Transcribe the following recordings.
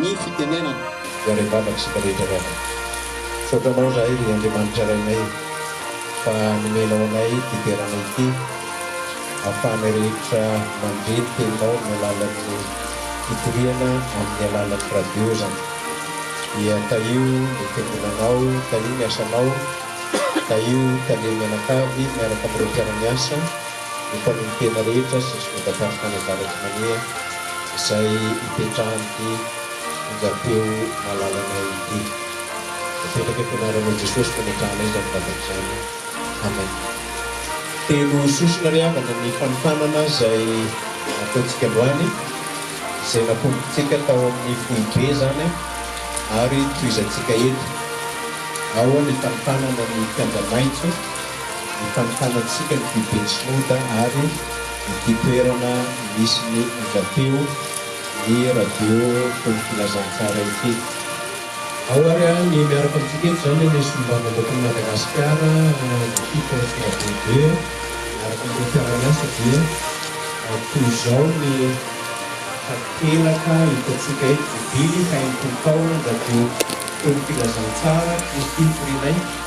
ny fitenenana. Iray Vava isika rehetra ry havana. Misaotra Anao izahay ry Andriamanitra Rainay fa nomenao anay ity toerana ity ahafahanay rehetra mandre ny Teninao amin'ny alalan'ny fitoriana amin'ny alalan'ny radio izany. Dia tahio ny Fiangonanao, tahio ny asanao, tahio tale mianakavy miaraka amin'ireo mpiara-miasa. ny mpanolotena rehetra sy ny solondatam-pinoana avaratr'i Manea izay ipetrahan'ity onjam-peo malalanay ity. Mipetraka eto anaranao Jesosy no ametrahanay izany vavaka izany. Amen. Telo sosona ry havana ny fanofanana izay ataontsika androany, izay napombontsika tao amin'ny foibe izany ary tohizantsika eto. Ao ny fanofanana ny kianja maitso. Mitantara antsika ny foiben'i Sinoda ary ity toerana misy ny onjam-peo ny radio fony filazantsara ity. Ao ary ny miaraka amintsika eto izany ny solombavambahoakan'i Madagasikara ny fifswb miaraka amin'ireo mpiara-miasa dia toy izao ny takelaka hitantsika eto, Jobily fahenimpolo taona ny radio fony filazantsara, Kristy firianay.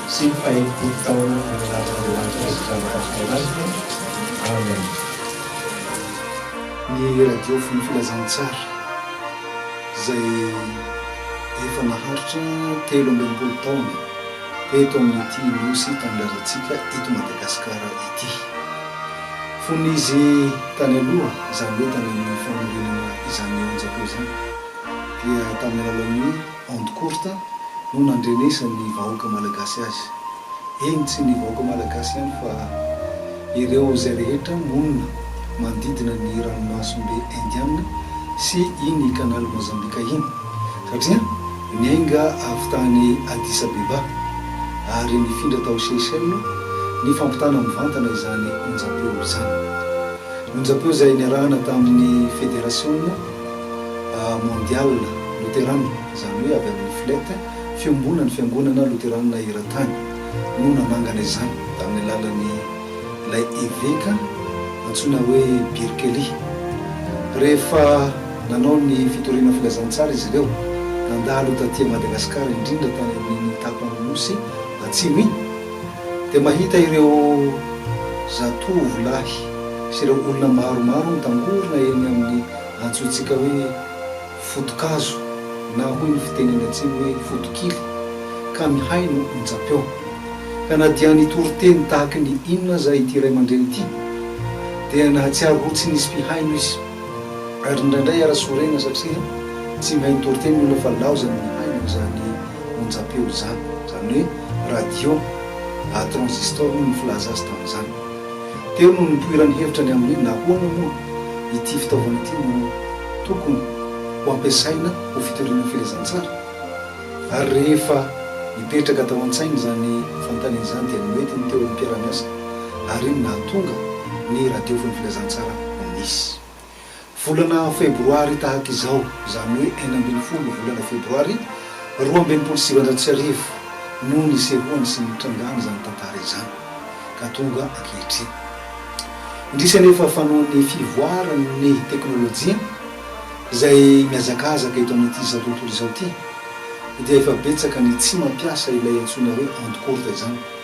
sy ny fahenimpolo taona naniravin'Andriamanitra azy izany tamin'ny Fanahy Masina. Amen. Ny radio fony filazantsara izay efa naharitra telo amby enimpolo taona eto amin'ity nosy tanindrazantsika eto Madagasikara ity. Fony izy tany aloha izany hoe tany amin'ny fanorenana izany onjako izany dia tamin'ny alalan'ny Onde courte, no nandrenesan'ny vahoaka malagasy azy. Eny tsy ny vahoaka malagasy ihany fa ireo izay rehetra monina manodidina ny ranomasom-be Indiana sy iny kanaly Mozambika iny satria niainga avy tany Addis Abeba ary nifindra tao Seychelles nifampitana mivantana izany onjam-peo izany. Onjam-peo izay niarahana tamin'ny federasiona. Mondial Lutheran, izany hoe avy amin'ny Flet, Fiombonan'ny Fiangonana Loteranina Eran-tany, no nanangana izany tamin'ny alalan'ny ilay eveka antsoina hoe Birkeli. Rehefa nanao ny fitoriana filazantsara izy ireo, nandalo taty Madagasikara, indrindra tany amin'iny tapan'ny nosy atsimo iny, Dia mahita ireo zatovo lahy sy ireo olona maromaro mitangorona eny amin'ny antsointsika hoe foto-kazo na hoy ny fiteny any atsimo hoe foto-kily ka mihaino onjam-peo. Ka na dia nitory teny tahaky ny inona aza ity ray aman-dreny ity dia nahatsiaro ho tsy nisy mpihaino izy. Ary indraindray ara-sorena satria tsy mahay nitory teny ny olona fa laozany mihaino izany onjam-peo izany, izany hoe radio à transistor hoy ny filaza azy tamin'izany. Teo no nipoiran'ny hevitra ny amin'ny hoe nahoana moa ity fitaovana ity no tokony ho ampiasaina ho fitoriana firezantsara ary rehefa nipetraka tao an-tsainy izany fanontaniana izany dia mety ny teo amin'ny mpiara-miasa ary iny nahatonga ny radiofon'ny filazantsara ho nisy. Volana febroary tahaka izao, izany hoe enina ambin'ny folo volana febroary roa amby enimpolo sy sivinjato sy arivo no nisehoany sy nitrangany izany tantara izany ka tonga ankehitriny. Indrisy anefa fa noho ny fivoaran'ny teknolojia izay mihazakazaka eto amin'ity izao tontolo izao ity dia efa betsaka ny tsy mampiasa ilay antsoina hoe onde courte izany.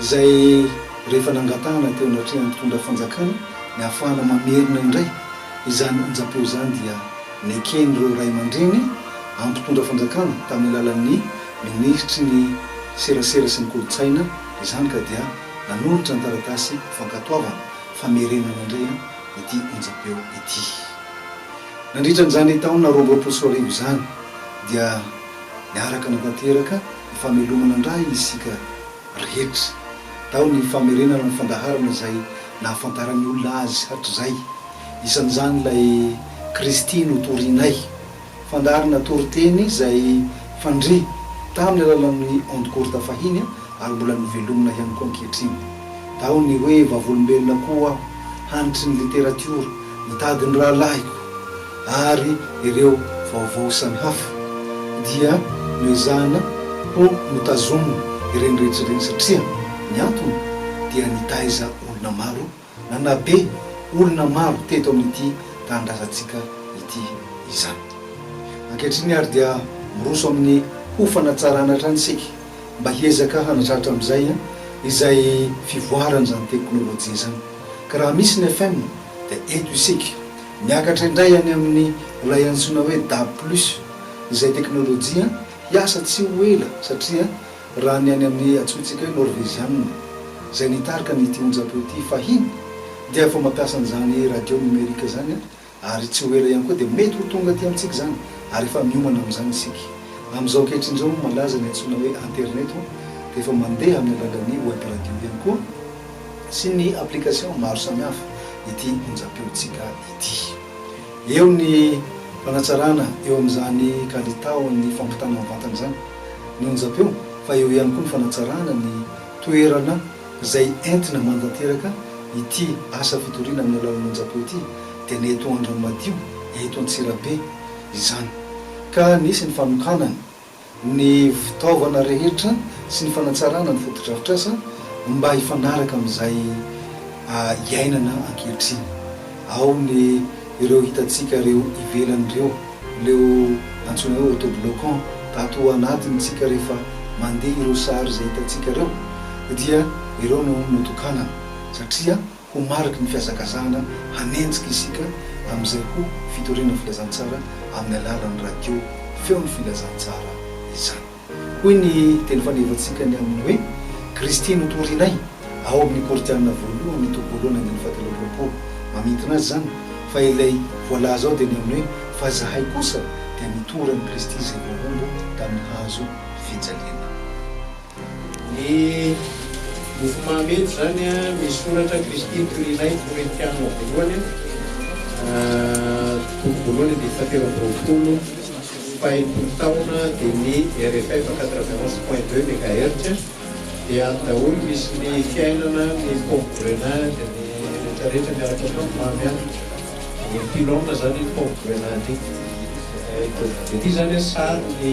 izay rehefa nangatahana teo anatrehan'ny mpitondra fanjakana ny ahafahana mamerina indray izany onjam-peo izany dia neken'ireo ray aman-dreny amin'ny mpitondra fanjakana tamin'ny alalan'ny minisitry ny serasera sy ny kolontsaina izany ka dia nanolotra ny taratasy fankatoavana famerenana indray ity onjam-peo ity. Nandritra an'izany taona roa amby roapolo sy roa arivo izany dia niaraka nanatanteraka Ny famelomana andrainy isika rehetra. Tao ny famerenana ny fandaharana izay nahafantaran'ny olona Azy hatrizay. Isan'izany ilay Kristy notorinay. Fandaharana toriteny izay fandre tamin'ny alalan'ny ondes courtes fahiny ary mbola novelomina ihany koa ankehitriny. Tao ny hoe Vavolombelona koa aho, hanitry ny literatiora, mitady ny rahalahiko. ary ireo vaovao samihafa dia noezahana ho notazomina ireny rehetra ireny satria ny antony dia nitaiza olona maro na nabe olona maro teto amin'ity tanindrazantsika ity izany. Ankehitriny ary dia miroso amin'ny ho fanatsarana hatrany isika mba hiezaka hanatratra amin'izay izay fivoaran'izany teknolojia izany ka raha misy ny FM dia eto isika Miakatra indray any amin'ny ilay antsoina hoe dab plus izay teknolojia hiasa tsy ho ela satria raha ny any amin'ny antsointsika hoe Norveziana izay nitarika an'ity onjam-peo ity fahiny dia efa mampiasa an'izany radio numerique izany ary tsy ho ela ihany koa dia mety ho tonga aty amintsika izany ary efa miomana amin'izany isika amin'izao ankehitriny izao. Malaza ny antsoina hoe Internet dia efa mandeha amin'ny alalan'ny web radio ihany koa. sy ny application maro samihafa ity onjam-peontsika ity. Eo ny fanatsarana eo amin'izany kalitaon'ny fampitana amin'ny vatana izany ny onjam-peo fa eo ihany koa ny fanatsarana ny toerana izay entina mantanteraka ity asa fitoriana amin'ny alalan'ny onjam-peo ity dia ny eto Andranomadio, eto Antsirabe izany ka nisy ny fanokanana. ny fitaovana rehetra sy ny fanatsarana ny fotodrafitrasa mba hifanaraka amin'izay iainana ankehitriny. Ao ny ireo hitantsika ireo ivelany ireo, leo antsoina hoe autobloquant, tato anatiny tsika rehefa mandeha ireo sary izay hitantsika ireo dia ireo no notokanana satria. Ho mariky ny fihazakazahana hanenjika isika amin'izay ho fitoriana filazantsara amin'ny alalan'ny radio Feon'ny Filazantsara izany. Hoy ny teny fandehevantsika ny amin'ny hoe Kristy notorinay ao amin'ny Korintiana voalohany toko voalohany andininy fahatelo amby roapolo. Mamintina azy izany fa ilay voalaza ao dia ny amin'ny hoe fa izahay kosa dia nitory an'i Kristy izay voahombo tamin'ny hazo fijaliana. Ny mofomamy eto izany misy soratra Kristy toy ilay Korintiana voalohany toko voalohany andininy fahatelo amby roapolo fahenimpolo taona dia ny rff quatre-vingt onze point deux megahertz dia ato daholo misy ny fiainana ny pompe grenade ny rehetra rehetra miaraka ao mamy an dia ny pylone izany iny pompe grenade iny dia ity izany an sary ny